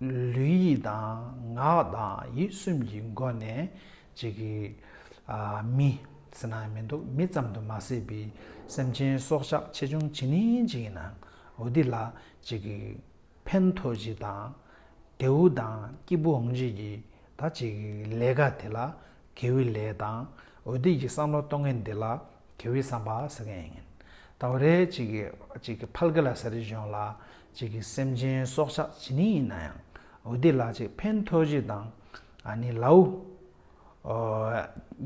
ལུས་ཡིད་དང་ངག་དང་ཡིད་གསུམ་གྱི་སྒོ་ནས་གཅིག་གི། མི། ཟེར་ན་མི་འདུག་མི་ཙམ་དུ་མ་ཟད་པའི་སེམས་ཅན་སྲོག་ཆགས་ཆེ་ཆུང་ཇི་ནི་ཅི་ཡིན་ནའང་འོ་དེ་ལ་གཅིག་གི། ཕན་ཐོགས་ཅི་དང། དེའུ་དང་སྐྱིད་པོ་འོང་བྱེད་ཀྱི་ད་གཅིག་གི། ལས་ཀ་དེ་ལ་གེའུའི་ལས་དང་འོ་དེ་ཀྱི་བསམ་བློ་གཏོང་མཁན་དེ་ལ་གལ་བའི་བསམ་པ་ཟེར་མཁན་ཡིན། ད་བར་རེ་གཅིག་གིས་ཕལ་གི་ལ་ས་རི་གཞོན་ལ་གཅིག་གིས་སེམས་ཅན་སྲོག་ཆགས་ཇི་ནི་ཡིན་ན་ཡང་འོ་དེ་ལ་གཅིག་ཕན་ཐོགས་གཅིག་དང་ནི་ལའུ།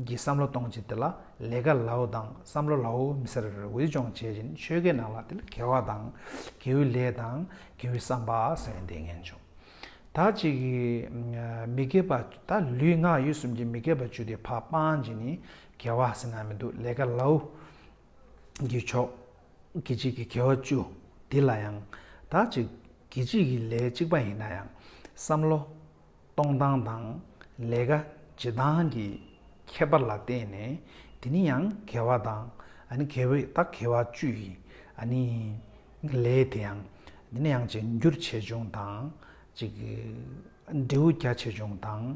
གི་བསམ་བློ་གཏོང་གཅིག་དེ་ལ་ལས་ཀ་ལའུ་དང་བསམ་བློ་ལའུ་མི་སེར་འོས་སྦྱོང་བྱེད་བཞིན་ཆོལ་ཁའི་ནང་ལ་དེ་ལ་གལ་བ་དང་གལ་བའི་ལས་དང་གལ་བའི་བསམ་པ་ཟེར་མཁན་དེ་ངན་བྱུང། ད་གཅིག་གིས་མི་སྐད་པ་ད་ལུས་ངག་ཡིད་གསུམ་གྱི་མི་སྐད་པ་བཅུ་དེ་ཕ་སྤང་གཅིག་ནི་གལ་བ་ཟེར་ན་མི་འདུག་ལས་ཀ་ལའུ་འགྱེད་ཆོག། གི་གཅིག་གི་གལ་བ་བཅུ་འདི་ལ་ཡང་དག་ཅིག་གི་གཅིག་གི་ལས་གཅིག་པ་ཡིན་ན་ཡང་བསམ་བློ་གཏོང་སྟངས་དང་ལས་ཀ་བྱེད་སྟངས་ཀྱི་ཁྱད་པར་ལ་བརྟེན་ནས་དེ་ནི་ཡང་གལ་བ་དང་ཨཱ་གལ་བའི་དག་གལ་བ་བཅུ་ཡི་ཨཱ་ནི་ལས་དེ་ཡང་དེ་ནི་ཡང་གཅིག་འགྱུར་ཆེ་ཆུང་དང་གཅིག་འབྲས་བུ་རྒྱ་ཆེ་ཆུང་དང།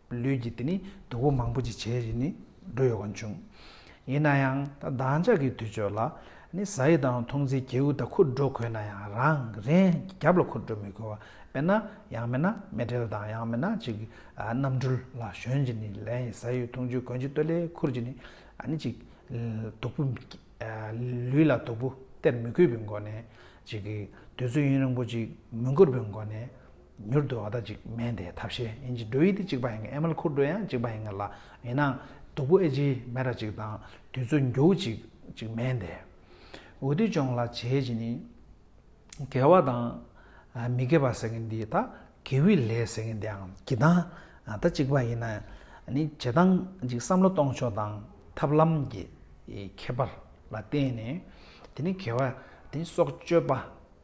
ལུས་ཀྱི་དེ་ནི་སྡུག་པོ་མང་པོ་ཅིག་བྱས་རྗེས་ནི་འགྲོ་ཡོད་ཀྱང་བྱུང། ཡིན་ན་ཡང་ད་བདག་ཅག་གི་དུས་ཆོས་ལ་ནི་བཟའ་ཡི་དང་འཐུང་རྩིས་གྱེའུ་དང་འཁུར་འགྲོ་དགོས་ན་ཡང་རང་རེན་གྱི་རྒྱབ་ལ་འཁུར་འགྲོ་མི་དགོས་བ་དཔེར་ན་ཡང་མེད་ན་མེ་དྲེལ་དང་ཡང་མེད་ན་ཅིག་གནམ་གྲུ་ལ་ཞོན་རྗེས་ནི་ལན་ཡི་བཟའ་ཡི་འཐུང་ཆུའི་གོན་ཆུ་སྟོད་ལས་འཁུར་རྗེས་ནི་ནི་ཅིག་སྡུག་པོ། ལུས་ལ་སྡུག་པོ་སྟེར་མི་དགོས་པའི་སྒོ་ནས་ཅིག་དུས་ཚོད་ཡུན་རིང་པོ་ཅིག་མི་འགོར་བའི་སྒོ་ནས་མྱུར་དུ་བ་ད་ཅིག་མན་དེ་ཐབས་ཤེས་ཨིན་ཇི་འགྲོ་ཡི་དེ་གཅིག་པ་ཡིན་ངེ་ཨེ་མལ་ཁུར་འགྲོ་ཡང་གཅིག་པ་ཡིན་ངེ་ལ་ཡིན་ནའང་སྡུག་པོ་ཨེ་ཇི་མན་ར་ཅིག་དང་དུས་ཚོད་འགྱུར་གཅིག་གཅིག་མན་དེ། འུ་དེ་ཅོང་ལ་བྱེད་ཅི་ནི། དགེ་བ་དང། མི་དགེ་བ་ཟེར་ངེ་འདི་ད་དགེ་བའི་ལས་ཟེར་ངེ་འདི་ཨང་གི་དང་ད་གཅིག་པ་ཡིན་ནའི་བྱེད་སྟངས་ཅིག་བསམ་བློ་གཏོང་ཕྱོགས་དང་ཐབས་ལམ་གྱི་ཁྱད་པར་ལ་བརྟེན་ནས་དེ་ནི་དགེ་བ་དེ་ནི་སྲོག་གཅོད་པ།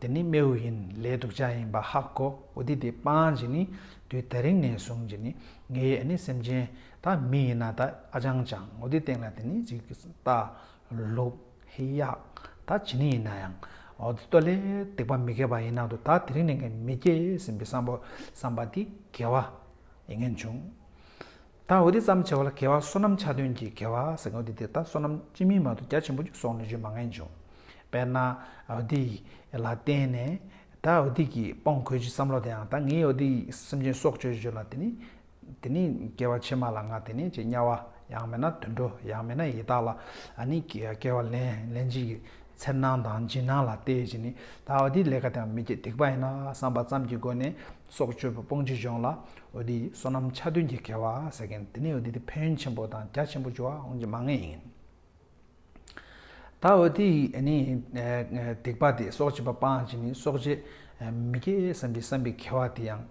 དེ་ནི་རྨེའུ་ཡིན་ལའི་དུག་ཆ་ཡིན་པ་ཧག་གོ་འོ་དེ་དེ་སྤངས་ཀྱི་ནི་དུས་ད་རིང་ནས་བཟུང་ཀྱི་ནི་ངའི་ཨ་ནི་སེམས་ཅན་ད་མི་ཡིན་ན་ད་ཨ་ཅང་ཅང་འོ་དེ་སྟེང་ལ་དེ་ནི་ཅིག་ལྟ་ལུགས་ཧི་ཡག་ད་ཇི་ནི་ཡིན་ན་ཡང་འོ་དེ་ལྟོ་ལས་སྡིག་པ་མི་དགེ་བ་ཡིན་ན་དུ་ད་དེ་རིང་ནས་ངས་མི་སྐྱེ་ཟིན་པའི་བསམ་པ་བསམ་པ་དེ་དགེ་བ་ཡིན་ངེས་བྱུང། དང་བའི་དེ་ཙམ་བྱ་བ་ལ་དགེ་བ་བསོད་ནམས་ཆ་དོན་གྱི་དགེ་བ་ཟེར་གྱི་འོ་དེ་དེ་ལྟར་བསོད་ནམས་སྤྱི་མིང་མ་ཏོ་རྒྱ་ཆེན་པོ་ཅིག་སོགས་ནས་བརྗོད་མ་ངེས་འབྱུང། དཔེར་ན། འོ་དེ་ཡི། ལ་བརྟེན་ནས། ད་འོ་དེ་ཀྱིས་སྤོང་དགོས་ཀྱི་བསམ་བློ་དེའང་ད་ངའི་འོ་དེ་ཡི་སེམས་ཅན་སྲོག་གཅོད་གཅོད་ལ་དེ་ནི། དེ་ནི་སྐྱེ་བ་ཕྱི་མ་ལ་ང་དེ་ནི་ཅེས་དམྱལ་བ། ཡང་མེད་ན་དུད་འགྲོ་ཡང་མེད་ན་ཡི་དྭགས་ལ། ཨ་ནི། སྐྱེ་བ་ལན། ལན་ཅིག་གི། འཚེར་སྣང་དང་འཇིགས་སྣང་ལ་བལྟས་ཀྱི་ནི། ད་འོ་དེ་ལས་ཀ་དེའང་མི་བསྐྱེད་སྡིག་པ་ཡིན་ན་བསམ་པ་ཙམ་གྱི་སྒོ་ནས། སྲོག་གཅོད་པ་སྤོང་བྱེད་སྦྱོང་ལ་འོ་དི་སོ་ནམ་ཆ་མཐུན་གྱི་དགེ་བ་ཟེར་མཁན་དེ་ནི་འོ་དི་དེ་ཕན་ཡོན་ཆེན་པོ་དང་རྒྱ་ཆེན་པོ་འབྱོར་བ་འོང་གི་མ་ངེས་ཡིན། ད་འོ་དི་ནི་སྡིག་པ་དེ་སྲོག་བྱེད་པ་སྤང་བྱེད་ནི་སྲོག་བྱེད་མི་དགེ་བསམ་གྱི་བསམ་པའི་དགེ་བ་དེ་ཡང་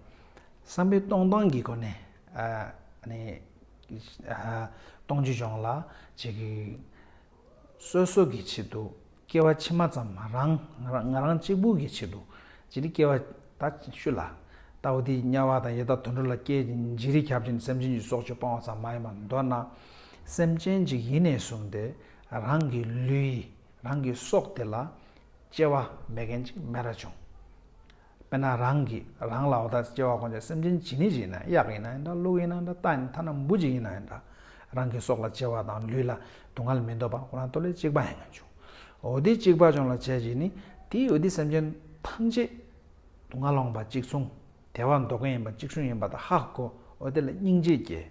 བསམ་པའི་སྟོང་སྟངས་ཀྱི་སྒོ་ནས་སྤོང་བྱེད་སྦྱོང་ལ་བྱེད་ཀྱི། སོ་སོ་གི་ཆེད་དུ་སྐྱེ་བ་ཕྱི་མ་ཙམ་མ་རང་ང་རང་གཅིག་པུ་གི་ཆེད་དུ་ཅི་རིགས་སྐྱེ་བ་ད་ཤུ་ལ། ལྟ་བུ་དེའི་དམྱལ་བ་དང་ཡེ་དག་དུད་འགྲོ་ལ་སྐྱེ་ཅིང་འཇིག་རིགས་ཁྱབ་ཅིང་སེམས་ཅན་གྱི་སྲོག་གཅོད་སྤང་བ་ཙམ་མ་ཡིན་པར་མདོར་ན། སེམས་ཅན་གཅིག་ཡིད་ནས་བཟུང་སྟེ་རང་གི་ལུས་རང་གི་སྲོག་དེ་ལ་སྐྱེ་བ་མེད་མཁན་གཅིག་མེད་ར་བྱུང། དཔེར་ན་རང་གིས་རང་ལ་བ་ད་སྐྱེ་བ་གོ་འདྲ་སེམས་ཅན་ཇི་ནི་ཇི་ཡིན་ན་གཡག་ཡིན་ན་ཡིན་འདྲ་ཀླུ་ཡིན་ན་འདྲ་རྟ་ཡིན་ན་ཐ་ན་འབུ་ཅི་ཡིན་ན་ཡིན་འདྲ་རང་གི་སྲོག་ལ་སྐྱེ་བ་དང་ལུས་ལ་སྡུག་བསྔལ་མི་འདོད་པ་ཁོ་རང་ཏོ་ལེ་གཅིག་པ་ཡིན་ངེས་བྱུང། འོ་དེ་གཅིག་པ་བྱུང་ལ་བྱས་རྗེས་ནི་དེའི་འོད་དེ་སེམས་ཅན་ཐམས་ཅད་སྡུག་བསྔལ་སློང་བ་གཅིག་མཚུངས་དལ་བ་འདོགས་མཁན་ཡིན་པ་གཅིག་བྱུང་ཡིན་པ་དང་ཧ་གོ་འོ་དེ་ལ་སྙིང་རྗེ་སྐྱེ།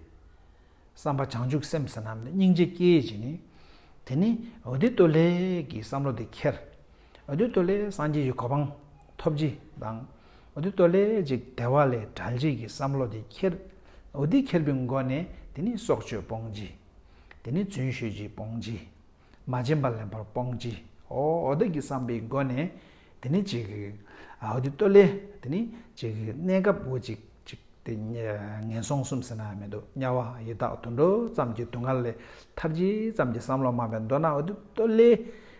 བསམ་པ་བྱང་ཆུབ་སེམས་ཟེར་ནམ་ནས་སྙིང་རྗེ་སྐྱེ་ཡི་ཇི་ནི། དེ་ནི་འོ་དེ་ཏོ་ལེ་གི་བསམ་བློ་དེ་ཁྱེར། འོད་དུ་ལས་སངས་རྒྱས་ཀྱི་གོ་འཕང་ཐོབ་བགྱི་དང། འོད་དུ་ལས་ཅིག་བདེ་བ་ལས་བྲལ་བྱེད་ཀྱི་བསམ་བློ་དེ་ཁྱེར། འོད་དེ་ཁྱེར་པའི་མགོ་ནས་དེ་ནི་སྲོག་གཅོད་སྤོང་བགྱི། དེ་ནི་རྫུན་ཤོད་བགྱི་སྤོང་བགྱི། མ་བྱིན་པ་ལེན་པར་སྤོང་བགྱི། འོད་བདག་གི་བསམ་པའི་མགོ་ནས་དེ་ནི་ཅིག། འོད་དུ་ལས་དེ་ནི་ཅིག་གནས་སྐབས་འོད་ཅིག་ཅིག་དེ། ངན་སོང་གསུམ་ཟིན་ན་མི་འདོད་དམྱལ་བ་ཡི་དྭགས་དུད་འགྲོ་ཙམ་གྱི་སྡུག་བསྔལ་ལས་ཐར་བགྱི་ཙམ་གྱི་བསམ་བློ་མ་བས་མདོར་ན་འོད་དུ་ལས།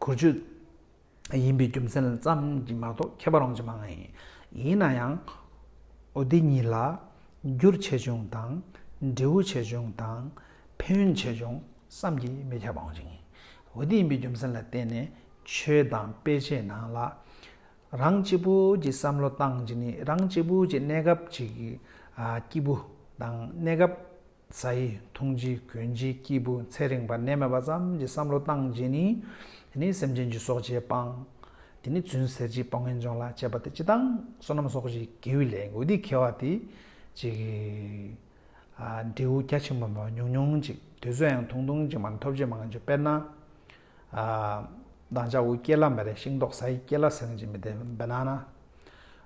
གུར་ཆོས་ཡིན་པའི་རྒྱུ་མཚན་ཙམ་གྱིས་མ་གཏོགས་ཁྱད་པར་འོང་རྒྱུ་མང་ངེས། ཡིན་ན་ཡང། འོ་དེ་གཉིས་ལ། འགྱུར་ཆེ་ཆུང་དང། འབྲས་བུ་ཆེ་ཆུང་དང། ཕན་ཡོན་ཆེ་ཆུང་བསམ་གྱིས་མི་ཁྱབ་པ་འོང་རྒྱུ་ངེས། འོ་དེ་ཡིན་པའི་རྒྱུ་མཚན་ལ་བརྟེན་ནས་ཆོས་དང་དཔེ་ཆའི་ནང་ལ། རང་གཅིག་པུ་གྱི་བསམ་བློ་བཏང་རྗེས་ནས་རང་གཅིག་པུ་གྱི་གནས་སྐབས་ཀྱི། སྐྱིད་པོ་དང་གནས་སྐབས་རྩ་ཡི་འཐུང་བྱེད་གོན་བྱེད་སྐྱེས་བུ་ཚེ་རིང་བ་ནད་མེད་པ་ཙམ་གྱི་བསམ་བློ་བཏང་རྗེས་ནི། དེ་ནི་སེམས་ཅན་གྱི་སྲོག་བཅད་སྤང། དེ་ནི་བརྫུན་ཟེར་གྱིས་སྤང་ངན་སྦྱོང་ལ་བཅད་པ་དེ་སྤྱི་དང། བསོད་ནམས་སོགས་ཀྱི་དགེ་བའི་ལས་འགུལ་འདི་ཁེལ་བ་དེ། ཅིག། འབྲས་བུ་རྒྱ་ཆེན་པོ་མེད་པ་ཉུང་ཉུང་ཅིག་དུས་ཚོད་ཡང་ཐུང་ཐུང་ཅིག་མ་ཐོབ་ཇེ་མང་ཇེ་དཔེར་ན། བདག་ཅག་འུ་སྐྱེ་ལ་མེ་རེ་ཤིང་ཏོག་ས་ཡི་སྐྱེ་ལ་ཟེང་ཅིག་མི་དེ་བི་ན་ན།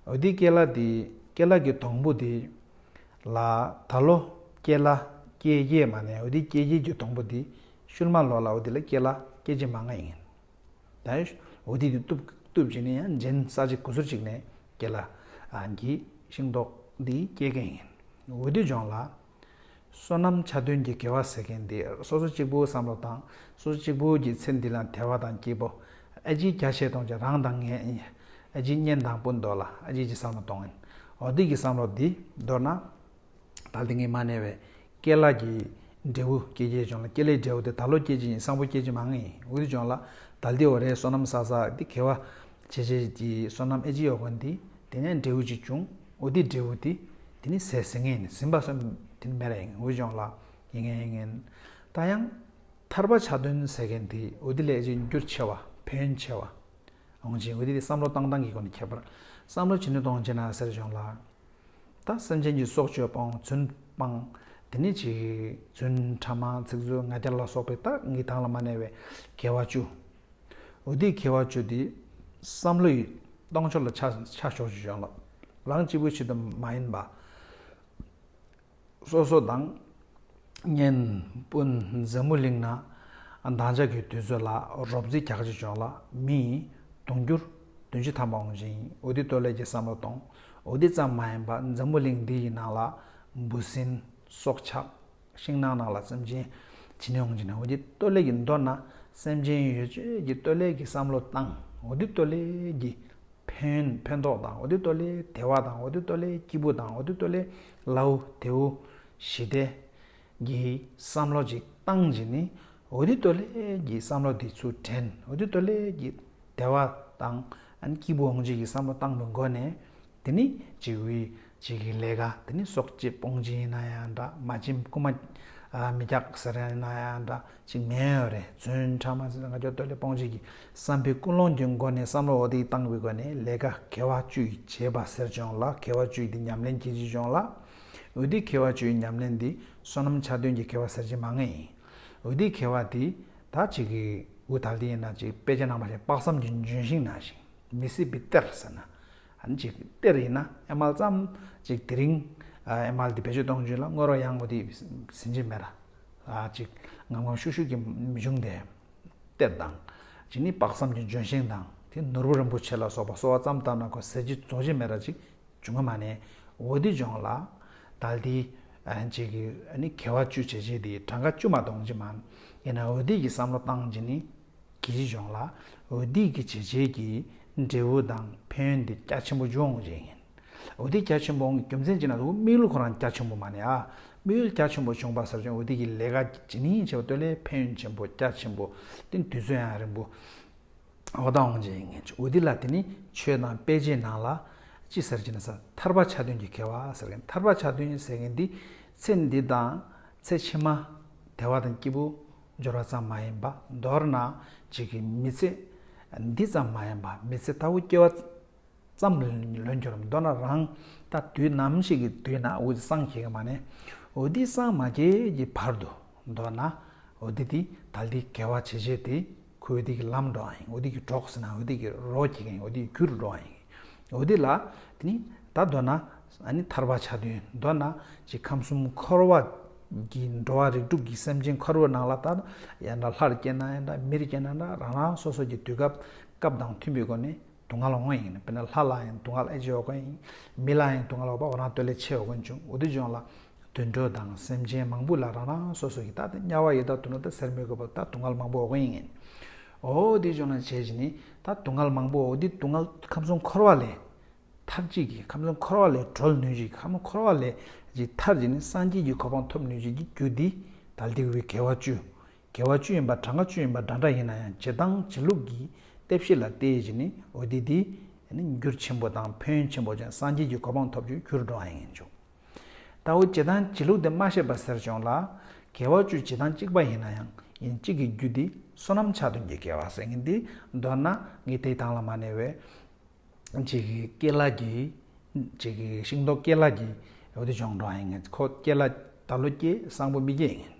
འུ་དེའི་སྐྱེ་ལ་དེའི་སྐྱེ་ལ་གི་དོང་བུ་དེ། ལ་ད་ལོ་སྐྱེ་ལ་སྐྱེ་རྒྱལ་མ་ནས་འུ་དེའི་སྐྱེ་རྒྱལ་གྱི་དོང་བུ་དེ་ཤུལ་མ་ལོ་ལ་འུ་དེ་ལ་སྐྱེ་ལ་སྐྱེ་རྗེ་མ་ང་ཡིན། ད་འུ་དེ་དེ་ཏུབ་ཏུབ་ཅིག་ནས་ཡང་འཇིན་ས་ཅིག་གུ་ཟུར་ཅིག་ནས་སྐྱེ་ལ་གི་ཤིང་ཏོག་དེ་སྐྱེ་གི་ཡིན། འུ་དེ་ལྗོངས་ལ་བསོད་ནམས་ཆ་མཐུན་གྱི་དགེ་བ་ཟེར་མཁན་འདི་སོ་སོ་གཅིག་པུའི་བསམ་བློ་དང་སོ་སོ་གཅིག་པུའི་གྱི་ཚེ་འདི་ལ་དད་བ་དང་སྐྱིད་པོ། ཨ་ཅིའི་བརྒྱ་བཤད་གཏོང་བྱེད་རང་དང་ངའི་ཨ་ཅིའི་གཉེན་དང་སྤུན་ཟློག་ལ་ཨ་ཅིའི་གྱི་བསམ་བློ་གཏོང་ཨེ། འོ་འདི་གྱི་བསམ་བློ་འདི་མདོར་ན། ད་དེ་ངས་མ་ནས་བའི་སྐྱེས་ལག་གྱི་འབྲས་བུ་སྐྱེས་སྐྱེས་བྱུང་ལ་སྐྱེས་ལེགས་འབྲས་བུ་དེ་ད་ལོ་སྐྱེས་ཀྱི་ཡིན་སང་པོ་སྐྱེས་ཀྱི་མ་ངེས་ཡིན་འུར་བྱུང་ལ་ད་འདི་འོ་རེད་བསོད་ནམས་བསགས་བསགས་འདི་དགེ་བ་བྱེད་བྱེད་ཀྱི་བསོད་ནམས་ཨེ་ཅིའི་འོ་གོ་འདི་དེ་ནས་འབྲས་བུ་གཅིག་བྱུང། འོ་དེའི་འབྲས་བུ་དེ་དེ་ནི་ཟས་ཟིན་ངན་ཟིན་པ་སོགས་དེ་ནི་མེད་ལ་ཡིན་འོད་སྦྱོང་ལ་ཡིན་ངན་ཡིན་ངན། ད་ཡང། ཐར་པ་ཆ་མཐུན་ཟེར་མཁན་དེ་འོ་དེ་ལས་གཅིག་འགྱུར་ཆེ་བ་ཕན་ཆེ་བ། འོང་ཆེ་འོ་དེ་དེ་བསམ་བློ་བཏང་བཏང་གི་སྒོ་ནས་ཁྱད་པར་བསམ་བློ་ཇི་ནུས་གཏོང་ཆེ་ན་ཟེར་སྦྱོང་ལ། ད་སེམས་ཅན་གྱི་སྲོག་གཅོད་སྤང་རྫུན་སྤང། དེ་ནི་གཅིག། རྫུན་ཕྲ་མ་ཚིག་རྩུབ་ང་རྒྱལ་ལ་སོགས་པའི་རྟགས་ངེས་དྭངས་ལ་མ་གནས་པའི་དགེ་བ་བཅུ། འོ་དེས་ཁྱེད་བར་གཅོད་དེ། བསམ་བློ་ཡི། སྟོང་ཕྱོགས་ལ་ཆ། ཆ་ཞོག་ཅིག་ཞོག། རང་གཅིག་པུའི་ཕྱིར་དུ་མ་ཡིན་པ། སོ་སོ་དང། གཉེན། སྤུན། མཛའ་མོ་གླིང། ན་དང་ལྕགས་ཀྱི་དུས་ཚོད་ལ། རོབ་རྫི་རྒྱག་ཅིག་ཞོག། མི། དུང་འགྱུར། དུང་ཕྱི་ཐམ་པ་འོང་ཅིང། འོ་དེས་སྟོད་ལས་ཀྱི་བསམ་བློ་གཏོང། འོ་དེ་ཙམ་མ་ཡིན་པ། མཛའ་མོ་གླིང་འདི་ཡི་ནང་ལ། འབུ་སྲིན། སྲོག་ཆགས། ཤིང་ནགས་ནགས་ལ་སེམས་ཅན་ཇི་ནས་འོང་ཇི་ནས་འོང་གི་སྟོད་ལས་ཀྱི་མདོ་ན་སེམས་ཅན་ཡོད་ཆོས་ཀྱི་སྟོད་ལས་ཀྱི་བསམ་བློ་དང་འོ་དོད་སྟོད་ལས་ཀྱི་ཕན་ཕན་ཐོགས་དང་འོ་དོད་སྟོད་ལས་དལ་བ་དང་འོ་དོད་སྟོད་ལས་སྐྱིད་པོ་དང་འོ་དོད་སྟོད་ལས་ལཱུ་དེའུ་ཞི་བདེ་གི་བསམ་བློ་ཅིག་བཏང་རྗེས་ནི་འོ་དོད་སྟོད་ལས་ཀྱི་བསམ་བློ་དེ་ཚུར་དྲན་འོ་དོད་སྟོད་ལས་ཀྱི་དལ་བ་དང་སྐྱིད་པོ་འོང་ཆོས་ཀྱི་བསམ་བློ་བཏང་བའི་མགོ་ནས་དེ་ནི་འཇིགས་བུའི་འཇིགས་ཀྱི་ལས་ཀ་དེ་ནི་སྲོག་གཅད་སྤོང་བྱེད་ཡིན་ན་ཡང་འདྲ་མ་བྱིན་རྐུ་མ་མི་རྒྱག་ཟེར་ཡང་ཡིན་ན་ཡང་འདྲ་ཅིག་མེད་ཡོད་རེད་བརྫུན་ཕྲ་མ་ཟེར་ན་ང་ཅོ་སྟོད་ལས་སྤོང་བྱེད་ཀྱི་བསམ་པའི་ཀུན་སློང་གྱི་སྒོ་ནས་བསམ་བློ་འོ་དེ་བཏང་བའི་སྒོ་ནས་ལས་ཀ་གལ་བ་བཅུ་བྱས་པ་ཟེར་བྱུང་ལ་གལ་བ་བཅུ་དེ་ཉམས་ལེན་གྱིས་བྱས་བྱུང་ལ། འོ་དེ་གལ་བ་བཅུའི་ཉམས་ལེན་དེ་བསོད་ནམས་ཆ་མཐུན་གྱི་གལ་བ་ཟེར་གྱི་མ་ངེས་ཡིན། འོ་དེ་གལ་བ་དེ་ད་ཅིག་གིས་འུ་ད་ལྟའི་ན་ཅིག་དཔེ་ཆ་ནང་པ་ཞིག་དཔག་བསམ་གྱི་ལྗོན་ཤིང་ན་ཞིང། མི་སྲིད་པའི་གཏེར་ཟེར་ན། ཨ་ཅེ། གཏེར་ཡིན་ན་ཨེ་མལ་ཙམ་ཅིག་དེ་རིང་ཨེ་མལ་དེ་བེད་སྤྱོད་གཏོང་རྒྱུ་ལ་དངོས་རོགས་གཡང་མོ་དེ་ཟིན་གྱི་མེད། ཅིག་ངམ་ངམ་ཤུགས་ཤུགས་ཀྱིས་མི་འབྱུང་སྟེ། གཏེར་དང། ཅིག་ནི་དཔག་བསམ་གྱི་ལྗོན་ཤིང་དང་དེ་ནོར་བུ་རིན་པོ་ཆེ་ལ་སོགས་པ་གསོ་བ་ཙམ་ལྟར་ན་ཁོ་ཟེར་གྱི་རྫོགས་ཀྱི་མེད། ཅིག་འབྱུང་གི་མ་ནི་འོ་དེ་འབྱུང་ལ། དལ་དེ། ཅིག་གི་ནི་གལ་བ་བཅུ་བྱས་རྗེས་དེའི་གྲངས་ཀ་བཅུ་མ་སྟོང་གྱི་མ། ཡིན་ན་འོ་དེ་ཀྱི་བསམ་བློ་བཏང་གི་ནི་གྱི་གཞུང་ལ་འོས་བསྡུས་ཀྱི་བྱས་རྗེས་ཀྱི་འབྲས་བུ་དང་ཕན་བདེ་རྒྱ་ཆེན་པོ་འབྱུང་བ་ཞིག་ཡིན། འོས་བསྡུ་རྒྱ་ཆེན་པོའང་རྒྱུ་མཚན་གཅིག་ན་དུ་དམིགས་ཡུལ་ཁོ་རང་རྒྱ་ཆེན་པོ་མ་ནས་ཨ་དམིགས་ཡུལ་རྒྱ་ཆེན་པོ་བྱུང་བ་ཟབ་ཅིང་འོས་བསྡུ་ཀྱི་ལས་ཀ་ཇི་ནིང་བྱས་པ་སྟོད་ལས་ཕན་ཡོན་ཆེན་པོ་རྒྱ་ཆེན་པོ་སྟེ་དུས་ཚོད་ཡང་རིང་པོ་འོག་ད་འོང་ཅིག་འོས་བསྡུ་ལ་དེ་ནི་ཆོས་དང་དཔེ་ཆའི་ནང་ལ་ཅི་ཟེར་ཅེ་ན་ས་ཐར་པ་ཆ་མཐུན་གྱི་ཁེ་བ་ཟེར་མཁན་ཐར་པ་ཆ་མཐུན་ཟེར་མཁན་འདི་ཚེ་འདི་དང་ཚེ་ཕྱི་མ་དལ་བ་དང་སྐྱིད་པོ། སྦྱོར་བ་ཙམ་མ་ཡིན་པ་མདོར་ན་གཅིག་གིས་མི་ཚེ་འདི་ཙམ་མ་ཡིན་པ་མི་ཚེ་ལྟ་བུ་སྐྱེལ་བ་ཙམ་ལོན་རྒྱུར་མདོར་ན་རང་ལྟ་དུས་ནམ་ཞིག་གི་དུས་ན་འུ་དེ་སངས་རྒྱས་ཀྱི་མ་ནས་འུ་དེ་སངས་མ་རྒྱས་ཀྱི་བར་དུ་མདོར་ན་འུ་དེ་དེ་དང་དེ་འགལ་བ་བྱེད་བྱེད་དེ་ཁོས་འུ་དེ་གྱི་ལམ་འགྲོ་བ་ཡིན་འུ་དེ་གྱི་གྲོགས་སུ་ཡིན་ན་འུ་དེ་གྱི་རོགས་བྱེད་མཁན་ཡིན་འུ་དེ་གྱི་རྒྱུ་རུ་འགྲོ་བ་ཡིན། འོ་དེ་ལ་དེ་ནི་ད་འདོད་ན་ཐར་པ་བྱ་དོན་འདོད་ན་ཅིག་ཁམས་གསུམ་འཁོར་བ་གྱི་འགྲོ་བ་རིགས་དྲུག་གི་སེམས་ཅན་ཁ་རུ་ནང་ལ་ད་ཡང་འདྲ་ལྷར་སྐྱེས་ན་ཡང་འདྲ་མིར་སྐྱེས་ན་འདྲ་རང་རང་སོ་སོ་ཀྱི་དུས་སྐབས་སྐབས་དང་མཐུན་པའི་སྒོ་ནས་དུག་ལྔ་ལ་བསྔོ་ཡིན་དཔེར་ན་ལྷ་ལ་ཡང་དུག་ལྔ་ལས་ལྕི་བ་དགོས་ཡིན་མི་ལ་ཡང་དུག་ལྔ་ལས་བ་བ་རང་བསྟོད་ལས་ཆེ་བ་དགོས་འབྱུང་འོ་དེ་འབྱུང་ལ་དུད་འགྲོ་དང་སེམས་ཅན་མང་པོ་ལ་རང་རང་སོ་སོ་ཀྱི་ད་དམྱལ་བ་ཡི་ད་དུ་ནོར་ད་ཟེར་མི་དགོས་པར་ད་དུག་ལྔ་ལ་མང་པོ་བ་བསྔོ་ཡིན། འོ་འདི་ལྗོངས་ལ་བྱས་ཀྱི་ནི་ད་དུང་མཁལ་མང་པོ་འོ་འདི་དུང་མཁལ་ཁམས་གསུམ་འཁོར་བ་ལས་ཐར་ཅིག་གིས་ཁམས་གསུམ་འཁོར་བ་ལས་གྲོལ་ནུས་ཅིག་ཁམས་གསུམ་འཁོར་བ་ལས་ཅིག་ཐར་ཅིག་ནི་སངས་རྒྱས་ཀྱི་གོ་འཕང་ཐོབ་ནུས་ཅིག་གི་རྒྱུ་འདི་དལ་ཏེ་བའི་གལ་བ་བཅུ། གལ་བ་བཅུ་ཡིན་པ་གྲངས་ཀ་བཅུ་ཡིན་པ་འདྲ་འདྲ་ཡིན་ན་ཡང་བྱེད་སྟངས་བྱེད་ལུགས་ཀྱི་གཏད་བཤད་ལ་བལྟས་ཀྱི་ནི་འོ་འདི་འདི་ནི་འགྱུར་ཆེན་པོ་དང་ཕན་ཡོན་ཆེན་པོ་ཅན་སངས་རྒྱས་ཀྱི་གོ་འཕང་ཐོབ་ཀྱི་རྒྱུར་འགྲོ་བ་ཡིན་ཆོག། ད་འོ་བྱེ་ཐང་བྱེད་ལུགས་དེ་མ་ཤེས་པ་ཟེར་བྱུང་ལ། གལ་བ་བཅུའི་བྱེ་ཐང་གཅིག་པ་ཡིན་ན་ཡང་ཡིན་གཅིག་གི་རྒྱུ་དེ་སོ་ནམ་ཆག་དོན་གྱི་གལ་བ་ཟེར་ངེས་འདི་མདོར་ན་ངའི་ཐེག་ཐང་ལ་མ་གནས་བས། བྱེ་ཀའི་སྐྱེས་ལག་གི། བྱེ་ཀའི་ཤིང་ཏོག་སྐྱེས་ལག་གི་འོད་དེ་འབྱུང་འགྲོ་ཨང་ཡིན་ངེས་ཁོ་སྐྱེས་ལག་ད་ལོ་སྐྱེས་སང་པོ་མི་སྐྱེས་ཡིན་ངེས།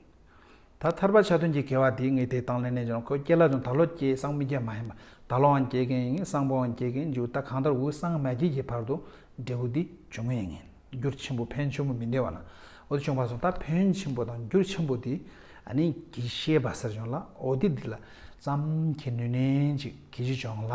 ད་ཐར་པ་ཆ་མཐུན་གྱི་དགེ་བ་དེའི་ངེས་དེ་དང་ལེན་ནས་ཀྱང་ཁོས་སྐྱེས་ལ་ཀྱང་ད་ལོ་སྐྱེས་སངས་མི་རྒྱ་མ་ཡིན་པ་ད་ལོའང་སྐྱེས་མཁན་ཡིན་ངེས་སངས་པོའང་སྐྱེས་མཁན་འཇུག་ད་གང་ལྟར་འུ་སངས་མ་སྐྱེས་ཀྱི་བར་དུ་འབྲས་བུ་འདི་འབྱུང་ངེས་ཡིན། རྒྱུར་ཆེན་པོ་ཕན་ཆུང་པོ་མི་འདྲེས་པ་ན་འོ་དེ་བྱུང་བར་སོང་ད་ཕན་ཆེན་པོ་དང་རྒྱུར་ཆེན་པོ་དེ་ནི་གྱིས་ཤེས་པ་ཟེར་བྱུང་ལ་འོ་དེ་འདི་ལ་བསམ་གྱིས་ནུས་ནན་ཅིག་གྱིས་ཅི་བྱུང་ལ།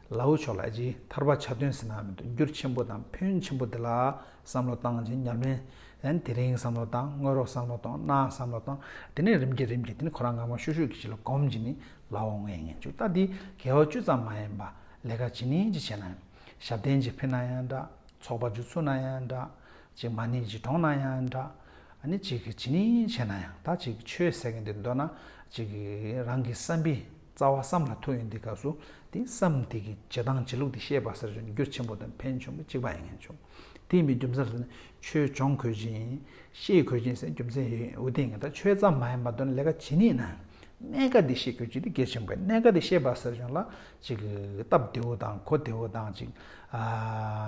ལ་འུ་ཆོ་ལ་ཅིག་ཐར་པ་ཆ་དོན་ཟིན་ན་མི་འདུག་འགྱུར་ཆེན་པོ་དང་ཕོན་ཆེན་པོ་འདི་ལ་བསམ་བློ་བཏང་ཅིང་ཉམས་ལེན་ལན་དེ་རིང་བསམ་བློ་བཏང་དངོས་རོགས་བསམ་བློ་བཏང་གནའ་བསམ་བློ་བཏང་དེ་ནས་རིམ་གྱིས་རིམ་གྱིས་དེ་ནས་ཁོ་རང་ངང་མོ་ཤུག་ཤུག་གིས་ཅི་ལ་གོམས་ཀྱིས་ནི་ལ་འོང་ངས་ངན་བྱུག་རྟ་འདི་གལ་བ་ཅུད་ཙམ་མ་ཡིན་པ་ལས་ཀ་ཇི་ནི་ཅི་བྱས་ན་ཡང་ཞབས་བརྟན་གྱིས་ཕེབས་ན་ཡང་འདྲ་ཚོགས་པ་འཇུ་ཚུགས་ན་ཡང་འདྲ་ཅིག་མ་ནི་ཅིག་གྲོངས་ན་ཡང་འདྲ་ནི་ཅིག་གིས་ཇི་ནི་བྱས་ན་ཡང་ད་ཅིག་ཆོས་ཟེར་མཁན་འདི་འདོད་ན་ཅིག་རང་གི་བསམ་པའི། རྩ་བ་བསམ་ལ་ཐུག་ཡོད་འདི་ག་སུ་དེ་བསམ་དེ་གི་བྱེད་སྟངས་བྱེད་ལུགས་དེ་ཤེས་པ་ཟེར་བྱུང་རྒྱུར་ཆེན་པོ་དང་ཕན་ཆུང་གཅིག་པ་ཡིན་ངེས་བྱུང་དེ་མི་རྒྱུ་མཚན་ཟེར་ན་ཆོས་སྦྱོང་གོས་ཅིང་ཤེས་གོས་ཅིང་ཟེར་རྒྱུ་མཚན་ཡོད་ཡིན་འུ་དེ་ངེས་ད་ཆོས་ཙམ་མ་ཡིན་པ་དོན་ལས་ཀ་ཇི་ནས་ན་གནད་ཀ་དེ་ཤེས་གོས་ཅིག་དེ་གལ་ཆེན་པོ་གནད་ཀ་དེ་ཤེས་པ་ཟེར་བྱུང་ལ་ཅིག་སྟབས་བདེ་བོ་དང་གོ་བདེ་བོ་དང་ཅིག་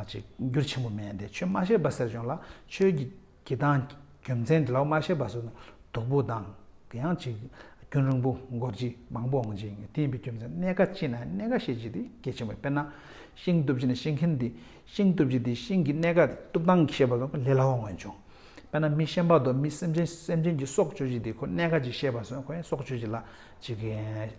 ཅིག་རྒྱུར་ཆེན་པོ་མེད་དེ་ཆོས་མ་ཤེས་པ་ཟེར་བྱུང་ལ་ཆོས་ཀྱི། གྱི་དང། རྒྱུ་མཚན་དེ་ལའོ་མ་ཤེས་པ་སོགས་ནི་སྡུག་པོ་དང། གི་ཡང་ཅིག། རྒྱུན་རིང་པོ་འགོར་གྱི་མང་པོ་འོང་ཅིང་བསྟན་པའི་རྒྱུ་མཚན་གནད་ཀ་ཅི་ན་གནད་ཀ་ཤེས་ཀྱི་དེ་གལ་ཆེན་པོ་དཔེར་ན། ཤིང་གཏུབ་ཅི་ན་ཤེས་མཁན་དེ་ཤིང་གཏུབ་ཀྱི་དེ་ཤིང་གི་གནད་ཀ་དེ་གཏུབ་སྟངས་ཤེས་པ་སོགས་ལས་སླ་བོ་མངོན་བྱུང། དཔེར་ན་མི་ཤེས་པ་དང་མི་སེམས་ཅན་སེམས་ཅན་གྱི་སྲོག་གཅོད་ཀྱི་དེ་ཁོ་གནད་ཀ་ཅིག་ཤེས་པ་སོགས་ཁོའི་སྲོག་གཅོད་ཀྱི་ལ་ཅིག།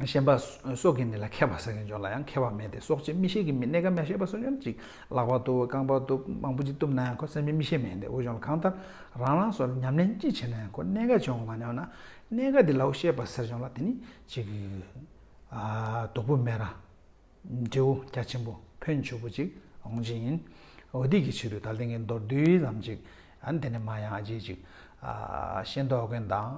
ཤེས་པ་སོགས་ཀྱིས་ནི་ལ་ཁད་པར་ཟ་གིན་ཡོད་ལ་ཡང་ཁེ་བ་མེད་དེ་སྲོག་ཆེ་མི་ཤེས་ཀྱི་མི་གནས་ཀ་མེད་ཤེས་པ་སོགས་ཡོད་ཅིག་ལག་པ་གཏུབ་རྐང་པ་གཏུབ་མང་པོ་ཅིག་གཏུབ་ན་ཡང་ཁོ་སེམས་ཅན་མི་ཤེས་མེད་དེ་འོས་སྦྱོང་གང་ལྟར་རང་རང་སོར་ཉམས་ལེན་ཅི་བྱེད་ན་ཡང་ཁོ་གནས་ཀ་བྱུང་མ་མྱོང་ན་གནས་ཀ་དེ་ལའོ་ཤེས་པ་ཟེར་བྱུང་ལ་དེ་ནི་ཅིག། དོག་པོ་སྨད་ར། འབྲེའུ་རྒྱ་ཆེན་པོ་ཕོན་ཆུ་བོ་ཅིག་འོང་བྱེད་ཡིན། འོ་དེ་ཀྱི་ཕྱིར་དུ་ད་ལྟེང་གི་མདོར་བསྡུས་ཙམ་ཅིག་ཨ་ནི་དེ་ནས་མ་ཡང་ཨ་ཅེ་ཅིག། ཤེས་མདོག་མཁན་དང།